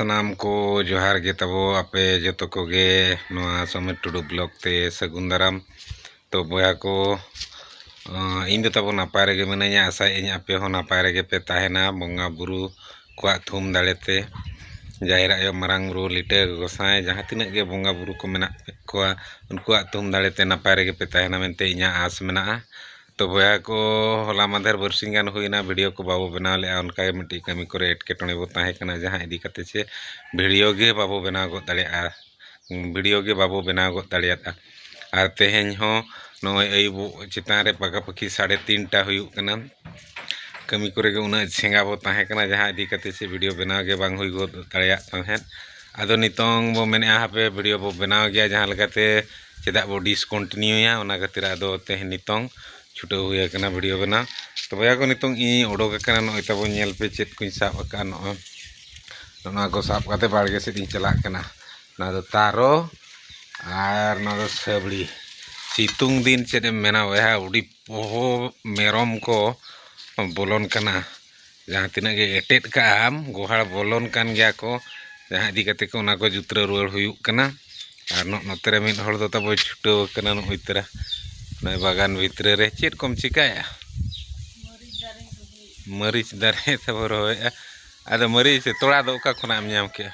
ᱥᱟᱱᱟᱢ ᱠᱚ ᱡᱚᱦᱟᱨ ᱜᱮ ᱛᱟᱵᱚ ᱟᱯᱮ ᱡᱚᱛᱚ ᱠᱚᱜᱮ ᱱᱚᱣᱟ ᱥᱚᱢᱤᱨ ᱴᱩᱰᱩ ᱵᱞᱚᱜ ᱛᱮ ᱥᱟᱹᱜᱩᱱ ᱫᱟᱨᱟᱢ ᱛᱚ ᱵᱚᱭᱦᱟ ᱠᱚ ᱤᱧ ᱫᱚ ᱛᱟᱵᱚ ᱱᱟᱯᱟᱭ ᱨᱮᱜᱮ ᱢᱤᱱᱟᱹᱧᱟ ᱟᱥᱟᱭᱮᱫ ᱟᱹᱧ ᱟᱯᱮ ᱦᱚᱸ ᱱᱟᱯᱟᱭ ᱨᱮᱜᱮ ᱯᱮ ᱛᱟᱦᱮᱱᱟ ᱵᱚᱸᱜᱟ ᱵᱩᱨᱩ ᱠᱚᱣᱟᱜ ᱛᱷᱩᱢ ᱫᱟᱲᱮ ᱛᱮ ᱡᱟᱦᱮᱨ ᱟᱭᱳ ᱢᱟᱨᱟᱝ ᱵᱩᱨᱩ ᱞᱤᱴᱟᱹ ᱜᱚᱸᱥᱟᱭ ᱡᱟᱦᱟᱸ ᱛᱤᱱᱟᱹᱜ ᱜᱮ ᱵᱚᱸᱜᱟ ᱵᱩᱨᱩ ᱠᱚ ᱢᱮᱱᱟᱜ ᱠᱚᱣᱟ ᱩᱱᱠᱩᱣᱟᱜ ᱛᱷᱩᱢ ᱫᱟᱲᱮ ᱛᱮ ᱱᱟᱯᱟᱭ ᱨᱮᱜᱮ ᱯᱮ ᱛᱟᱦᱮᱱᱟ ᱢᱮᱱᱛᱮ ᱤᱧᱟᱹᱜ ᱟᱸᱥ ᱢᱮᱱᱟᱜᱼᱟ ᱛᱚ ᱵᱚᱭᱦᱟ ᱠᱚ ᱦᱚᱞᱟ ᱢᱟᱫᱷᱮᱨ ᱵᱟᱨᱥᱤᱧ ᱜᱟᱱ ᱦᱩᱭᱱᱟ ᱵᱷᱤᱰᱤᱭᱳ ᱠᱚ ᱵᱟᱵᱚ ᱵᱮᱱᱟᱣ ᱞᱮᱜᱼᱟ ᱚᱱᱠᱟ ᱜᱮ ᱢᱤᱫᱴᱤᱡ ᱠᱟᱹᱢᱤ ᱠᱚᱨᱮ ᱮᱴᱠᱮᱴᱚᱬᱮ ᱵᱚ ᱛᱟᱦᱮᱸ ᱠᱟᱱᱟ ᱡᱟᱦᱟᱸ ᱤᱫᱤ ᱠᱟᱛᱮ ᱪᱮ ᱵᱷᱤᱰᱤᱭᱳ ᱜᱮ ᱵᱟᱵᱚ ᱵᱮᱱᱟᱣ ᱜᱚᱫ ᱫᱟᱲᱮᱭᱟᱜᱼᱟ ᱵᱷᱤᱰᱤᱭᱳ ᱜᱮ ᱵᱟᱵᱚ ᱵᱮᱱᱟᱣ ᱜᱚᱫ ᱫᱟᱲᱮᱭᱟᱫᱼᱟ ᱟᱨ ᱛᱮᱦᱮᱧ ᱦᱚᱸ ᱱᱚᱜᱼᱚᱭ ᱟᱹᱭᱩᱵᱚᱜ ᱪᱮᱛᱟᱱ ᱨᱮ ᱯᱟᱠᱟ ᱯᱟᱹᱠᱤ ᱥᱟᱲᱮ ᱛᱤᱱᱴᱟ ᱦᱩᱭᱩᱜ ᱠᱟᱱᱟ ᱠᱟᱹᱢᱤ ᱠᱚᱨᱮ ᱜᱮ ᱩᱱᱟᱹᱜ ᱥᱮᱸᱜᱟ ᱵᱚ ᱛᱟᱦᱮᱸ ᱠᱟᱱᱟ ᱡᱟᱦᱟᱸ ᱤᱫᱤ ᱠᱟᱛᱮ ᱪᱮᱫ ᱵᱷᱤᱰᱭᱳ ᱵᱮᱱᱟᱣ ᱜᱮ ᱵᱟᱝ ᱦᱩᱭ ᱜᱚᱫ ᱫᱟᱲᱮᱭᱟᱜ ᱛᱟᱦᱮᱸᱫ ᱟᱫᱚ ᱱᱤᱛᱚᱝ ᱵᱚ ᱢᱮᱱᱮᱜᱼᱟ ᱦᱟᱯᱮ ᱵᱷᱤᱰᱭᱳ ᱵᱚ ᱵᱮᱱᱟᱣ ᱜᱮᱭᱟ ᱡᱟᱦᱟᱸ ᱞᱮᱠᱟᱛᱮ ᱪᱮᱫᱟᱜ ᱵᱚ ᱰᱤᱥᱠᱚᱱᱴᱤᱱᱤᱭᱩᱭᱟ ᱚᱱᱟ ᱠᱷᱟᱹᱛᱤᱨ ᱟᱫᱚ ᱛᱮᱦᱮᱧ ᱱᱤᱛᱚᱝ ᱪᱷᱩᱴᱟᱹᱣ ᱦᱩᱭ ᱟᱠᱟᱱᱟ ᱵᱷᱤᱰᱭᱳ ᱵᱮᱱᱟᱣ ᱛᱚ ᱵᱚᱭᱦᱟ ᱠᱚ ᱱᱤᱛᱚᱝ ᱤᱧᱤᱧ ᱚᱰᱚᱠ ᱟᱠᱟᱱᱟ ᱱᱚᱜᱼᱚᱭ ᱛᱟᱵᱚ ᱧᱮᱞ ᱯᱮ ᱪᱮᱫ ᱠᱚᱧ ᱥᱟᱵ ᱟᱠᱟᱫᱼᱟ ᱱᱚᱜᱼᱚᱭ ᱱᱚᱣᱟ ᱠᱚ ᱥᱟᱵ ᱠᱟᱛᱮ ᱵᱟᱲᱜᱮ ᱥᱮᱫ ᱤᱧ ᱪᱟᱞᱟᱜ ᱠᱟᱱᱟ ᱱᱚᱣᱟ ᱫᱚ ᱛᱟᱨᱚ ᱟᱨ ᱱᱚᱣᱟ ᱫᱚ ᱥᱟᱹᱵᱽᱲᱤ ᱥᱤᱛᱩᱝ ᱫᱤᱱ ᱪᱮᱫ ᱮᱢ ᱢᱮᱱᱟ ᱵᱚᱭᱦᱟ ᱟᱹᱰᱤ ᱯᱚᱦᱚ ᱢᱮᱨᱚᱢ ᱠᱚ ᱵᱚᱞᱚᱱ ᱠᱟᱱᱟ ᱡᱟᱦᱟᱸ ᱛᱤᱱᱟᱹᱜ ᱜᱮ ᱮᱴᱮᱫ ᱠᱟᱜ ᱟᱢ ᱜᱳᱦᱟᱲ ᱵᱚᱞᱚᱱ ᱠᱟᱱ ᱜᱮᱭᱟ ᱠᱚ ᱡᱟᱦᱟᱸ ᱤᱫᱤ ᱠᱟᱛᱮ ᱠᱚ ᱚᱱᱟ ᱠᱚ ᱡᱩᱛᱨᱟᱹᱣ ᱨᱩᱣᱟᱹᱲ ᱦᱩᱭᱩᱜ ᱠᱟᱱᱟ ᱟᱨ ᱱᱚᱜᱼᱚᱸᱭ ᱱᱚᱛᱮ ᱨᱮ ᱢᱤᱫ ᱦᱚᱲ ᱫᱚ ᱛᱟᱵᱚ ᱪᱷᱩᱴᱟᱹᱣ ᱠᱟᱱᱟ ᱱᱚᱜᱼᱚᱸᱭ ᱛᱚᱨᱟ ᱱᱚᱜᱼᱚᱸᱭ ᱵᱟᱜᱟᱱ ᱵᱷᱤᱛᱨᱤ ᱨᱮ ᱪᱮᱫ ᱠᱚᱢ ᱪᱤᱠᱟᱹᱭᱮᱜᱼᱟ ᱢᱟᱹᱨᱤᱪ ᱫᱟᱨᱮ ᱛᱟᱵᱚ ᱨᱚᱦᱚᱭᱮᱜᱼᱟ ᱟᱫᱚ ᱢᱟᱹᱨᱤᱪ ᱛᱚᱲᱟ ᱫᱚ ᱚᱠᱟ ᱠᱷᱚᱱᱟᱜ ᱮᱢ ᱧᱟᱢ ᱠᱮᱜᱼᱟ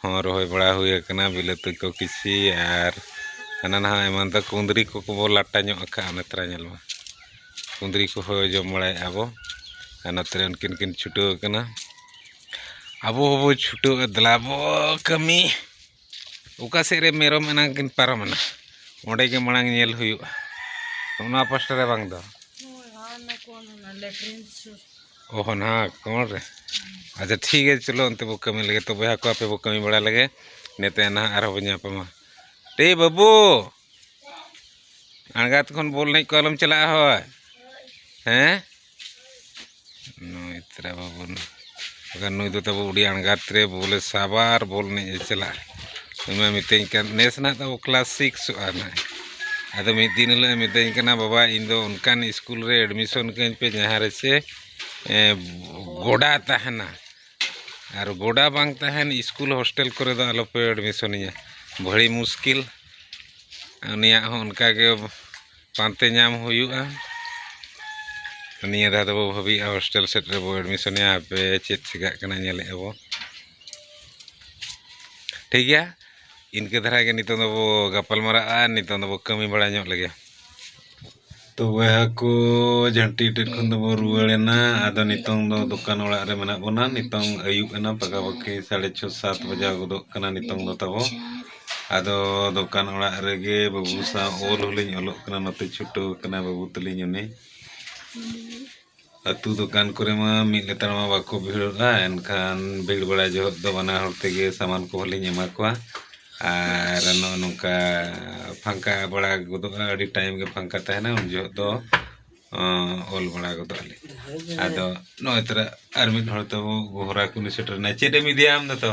ᱦᱚᱸ ᱨᱚᱦᱚᱭ ᱵᱟᱲᱟ ᱦᱩᱭ ᱟᱠᱟᱱᱟ ᱵᱤᱞᱟᱹᱛᱤ ᱠᱚ ᱠᱤᱪᱷᱤ ᱟᱨ ᱦᱟᱱᱟ ᱱᱟᱣᱟ ᱮᱢᱟᱱ ᱛᱮ ᱠᱩᱸᱫᱽᱨᱤ ᱠᱚ ᱠᱚᱵᱚ ᱞᱟᱴᱟ ᱧᱚᱜ ᱟᱠᱟᱜᱼᱟ ᱱᱮᱛᱟᱨ ᱧᱮᱞ ᱢᱮ ᱠᱩᱸᱫᱽᱨᱤ ᱠᱚᱦᱚᱸ ᱡᱚᱢ ᱵᱟᱲᱟᱭᱮᱜᱼᱟ ᱵᱚ ᱟᱨ ᱱᱚᱛᱮ ᱨᱮ ᱩᱱᱠᱤᱱ ᱠᱤᱱ ᱪᱷᱩᱴᱟᱹᱣ ᱟᱠᱟᱱᱟ ᱟᱵᱚ ᱦᱚᱸᱵᱚ ᱪᱷᱩᱴᱟᱹᱜᱼᱟ ᱫᱮᱞᱟ ᱵᱚ ᱠᱟᱹᱢᱤ ᱚᱠᱟ ᱥᱮᱫ ᱨᱮ ᱢᱮᱨᱚᱢ ᱮᱱᱟᱝ ᱠᱤᱱ ᱯᱟᱨᱚᱢᱮᱱᱟ ᱚᱸᱰᱮ ᱜᱮ ᱢᱟᱲᱟᱝ ᱧᱮᱞ ᱦᱩᱭᱩᱜᱼᱟ ᱚᱱᱟ ᱯᱟᱥᱴᱟ ᱨᱮ ᱵᱟᱝ ᱫᱚ ᱚ ᱦᱚᱸ ᱱᱟᱦᱟᱜ ᱟᱠᱚᱨ ᱨᱮ ᱟᱪᱪᱷᱟ ᱴᱷᱤᱠ ᱜᱮᱭᱟ ᱪᱚᱞᱚ ᱚᱱᱛᱮ ᱵᱚ ᱠᱟᱹᱢᱤ ᱞᱮᱜᱮ ᱛᱚ ᱵᱚᱭᱦᱟ ᱠᱚ ᱟᱯᱮ ᱵᱚ ᱠᱟᱹᱢᱤ ᱵᱟᱲᱟ ᱞᱮᱜᱮ ᱤᱱᱟᱹ ᱛᱟᱭᱚᱢ ᱱᱟᱦᱟᱜ ᱟᱨᱦᱚᱸ ᱵᱚᱱ ᱧᱟᱯᱟᱢᱟ ᱮ ᱵᱟᱹᱵᱩ ᱟᱬᱜᱟᱛ ᱠᱷᱚᱱ ᱵᱚᱞ ᱮᱱᱮᱡ ᱠᱚ ᱟᱞᱚᱢ ᱪᱟᱞᱟᱜᱼᱟ ᱦᱳᱭ ᱦᱮᱸ ᱱᱩᱭ ᱛᱮᱨᱟ ᱵᱟᱹᱵᱩ ᱱᱩᱭ ᱫᱚ ᱛᱟᱵᱚ ᱟᱹᱰᱤ ᱟᱬᱜᱟᱛ ᱨᱮ ᱵᱚᱞᱮ ᱥᱟᱵᱟ ᱟᱨ ᱵᱚᱞ ᱮᱱᱮᱡ ᱮ ᱪᱟᱞᱟᱜᱼᱟ ᱩᱱᱤ ᱢᱟᱭ ᱢᱤᱛᱟᱹᱧ ᱠᱟᱱ ᱱᱮᱥ ᱱᱟᱜ ᱛᱟᱵᱚ ᱠᱞᱟᱥ ᱥᱤᱠᱥᱚᱜᱼᱟ ᱱᱟᱜ ᱟᱫᱚ ᱢᱤᱫ ᱫᱤᱱ ᱦᱤᱞᱳᱜ ᱮ ᱢᱤᱛᱟᱹᱧ ᱠᱟᱱᱟ ᱵᱟᱵᱟ ᱤᱧ ᱫᱚ ᱚᱱᱠᱟᱱ ᱤᱥᱠᱩᱞ ᱨᱮ ᱮᱰᱢᱤᱥᱚᱱ ᱠᱟᱹᱧ ᱯᱮ ᱡᱟᱦᱟᱸ ᱨᱮᱥᱮ ᱜᱚᱰᱟ ᱛᱟᱦᱮᱱᱟ ᱟᱨ ᱜᱚᱰᱟ ᱵᱟᱝ ᱛᱟᱦᱮᱱ ᱤᱥᱠᱩᱞ ᱦᱳᱥᱴᱮᱞ ᱠᱚᱨᱮ ᱫᱚ ᱟᱞᱚ ᱯᱮ ᱮᱰᱢᱤᱥᱚᱱᱤᱧᱟᱹ ᱵᱷᱟᱹᱲᱤ ᱢᱩᱥᱠᱤᱞ ᱩᱱᱤᱭᱟᱜ ᱦᱚᱸ ᱚᱱᱠᱟ ᱜᱮ ᱯᱟᱱᱛᱮ ᱧᱟᱢ ᱦᱩᱭᱩᱜᱼᱟ ᱱᱤᱭᱟᱹ ᱫᱷᱟᱣ ᱫᱚᱵᱚ ᱵᱷᱟᱹᱵᱤᱭᱮᱜᱼᱟ ᱦᱳᱥᱴᱮᱞ ᱥᱮᱫ ᱨᱮᱵᱚ ᱮᱰᱢᱤᱥᱚᱱᱮᱭᱟ ᱦᱟᱯᱮ ᱪᱮᱫ ᱪᱤᱠᱟᱹᱜ ᱠᱟᱱᱟ ᱧᱮᱞᱮᱜᱼᱟ ᱵᱚ ᱴᱷᱤᱠ ᱜᱮᱭᱟ ᱤᱱᱠᱟᱹ ᱫᱷᱟᱨᱟ ᱜᱮ ᱱᱤᱛᱚᱝ ᱫᱚᱵᱚ ᱜᱟᱯᱟᱞ ᱢᱟᱨᱟᱜᱼᱟ ᱱᱤᱛᱚᱝ ᱫᱚᱵᱚ ᱠᱟᱹᱢᱤ ᱵᱟᱲᱟ ᱧᱚᱜ ᱞᱮᱜᱮ ᱛᱚ ᱵᱚᱭᱦᱟ ᱠᱚ ᱡᱷᱟᱹᱱᱴᱤ ᱴᱷᱮᱱ ᱠᱷᱚᱱ ᱫᱚᱵᱚ ᱨᱩᱣᱟᱹᱲᱮᱱᱟ ᱟᱫᱚ ᱱᱤᱛᱚᱝ ᱫᱚ ᱫᱚᱠᱟᱱ ᱚᱲᱟᱜ ᱨᱮ ᱢᱮᱱᱟᱜ ᱵᱚᱱᱟ ᱱᱤᱛᱚᱝ ᱟᱹᱭᱩᱵ ᱮᱱᱟ ᱯᱟᱠᱟᱯᱟᱠᱤ ᱥᱟᱲᱮ ᱪᱷᱚ ᱥᱟᱛ ᱵᱟᱡᱟᱣ ᱜᱚᱫᱚᱜ ᱠᱟᱱᱟ ᱱᱤᱛᱚᱝ ᱫᱚ ᱛᱟᱵᱚ ᱟᱫᱚ ᱫᱚᱠᱟᱱ ᱚᱲᱟᱜ ᱨᱮᱜᱮ ᱵᱟᱹᱵᱩ ᱥᱟᱶ ᱚᱞ ᱦᱚᱸᱞᱤᱧ ᱚᱞᱚᱜ ᱠᱟᱱᱟ ᱱᱚᱛᱮ ᱪᱷᱩᱴᱟᱹᱣ ᱟᱠᱟᱱᱟᱭ ᱵᱟᱹᱵᱩ ᱛᱟᱹᱞᱤᱧ ᱩᱱᱤ ᱟᱹᱛᱩ ᱫᱚᱠᱟᱱ ᱠᱚᱨᱮ ᱢᱟ ᱢᱤᱫ ᱞᱮᱛᱟᱲ ᱢᱟ ᱵᱟᱠᱚ ᱵᱷᱤᱲᱚᱜᱼᱟ ᱮᱱᱠᱷᱟᱱ ᱵᱷᱤᱲ ᱵᱟᱲᱟ ᱡᱚᱦᱚᱜ ᱫᱚ ᱵᱟᱱᱟ ᱦᱚᱲ ᱛᱮᱜᱮ ᱥᱟᱢᱟᱱ ᱠᱚᱦᱚᱸ ᱞᱤᱧ ᱮᱢᱟ ᱠᱚᱣᱟ ᱟᱨ ᱱᱚᱜᱼᱚ ᱱᱚᱝᱠᱟ ᱯᱷᱟᱸᱠᱟ ᱵᱟᱲᱟ ᱜᱚᱫᱚᱜᱼᱟ ᱟᱹᱰᱤ ᱴᱟᱭᱤᱢ ᱜᱮ ᱯᱷᱟᱸᱠᱟ ᱛᱟᱦᱮᱱᱟ ᱩᱱ ᱡᱚᱦᱚᱜ ᱫᱚ ᱚᱞ ᱵᱟᱲᱟ ᱜᱚᱫᱚᱜ ᱟᱹᱞᱤᱧ ᱟᱫᱚ ᱱᱚᱜᱼᱚᱭ ᱛᱚᱨᱟ ᱟᱨ ᱢᱤᱫ ᱦᱚᱲ ᱛᱟᱵᱚ ᱜᱚᱦᱨᱟ ᱠᱩᱞᱦᱤ ᱥᱮᱴᱮᱨᱮᱱᱟᱭ ᱪᱮᱫ ᱮᱢ ᱤᱫᱤᱭᱟ ᱟᱢ ᱫᱚ ᱛᱚ